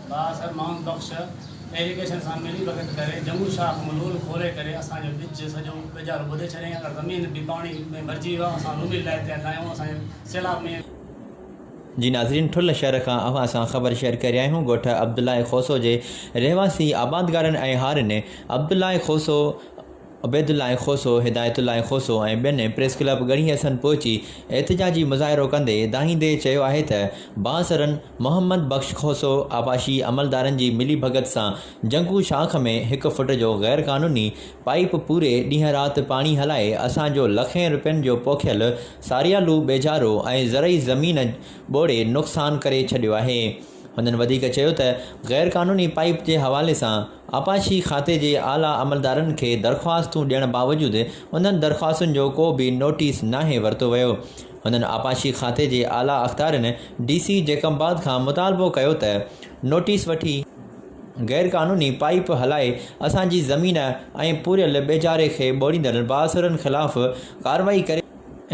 بااثر محمد بخش ايريگيشن سان ملي ڀڳت ڪري جمون شاخ ملول کولي ڪري اسان جو ٻج سڄو ٻيجارو ٻڌي ڇڏيائين اگر زمين به پاڻي ۾ ڀرجي ويو آهي اسان روميل لاهي تيار ناهيون اسان کي سيلاب ۾ جي ناظرين ٺل شھر کان اوھان سان خبر شيئر ڪري رھيا آھيون ڳوٺ عبدالله کوسو جي رھواسي آبادگارن ۽ ھارين عبدالله کوسو عبيدالله کوسو ھدايت الله کوسو ۽ ٻين پريس ڪلب ڳڙھي حسن پھچي احتجاجي مظاھرو ڪندي دانھيندي چيو آھي ته بااثرن محمد بخش کوسو آباشي عملدارن جي ملي ڀڳت سان جنگو شاخ ۾ ھڪ فٽ جو غير قانوني پائيپ پوري ڏينھن رات پاڻي ھلائي اسان جو لکين روپين جو پوکيل ساريا لو ٻيجارو ۽ زرعي زمين ٻوڙي نقصان ڪري ڇڏيو آهي. هنن وڌيڪ چيو ته غير قانوني پائيپ جي حوالي سان آبپاشي کاتي جي اعليٰ عملدارن کي درخواستون ڏيڻ باوجود انهن درخواستن جو ڪو به نوٽيس ناهي ورتو ويو. هنن آبپاشي کاتي جي اعليٰ اختيارين ڊي سي جيڪب آباد کان مطالبو ڪيو ته نوٽيس وٺي. غير قانوني پائيپ هلائي اسان جي زمين ۽ پوريل ٻيجاري کي ٻوڙيندڙ بااثرن خلاف ڪارروائي ڪري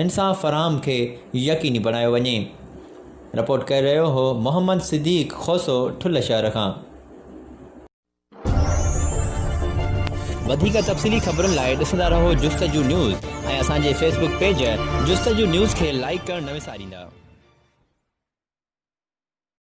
انصاف فراهم کي يقيني بڻايو وڃي. رپورٽ ڪري رهيو هو محمد صديق کوسو ٺل شهر کان. وڌيڪ تفصيلي خبرن لاء ڏسندا رهو جستجو نيوز ۽ اسان جي Facebook page Justuju news کي لائيڪ ڪرڻ نه وساريندا.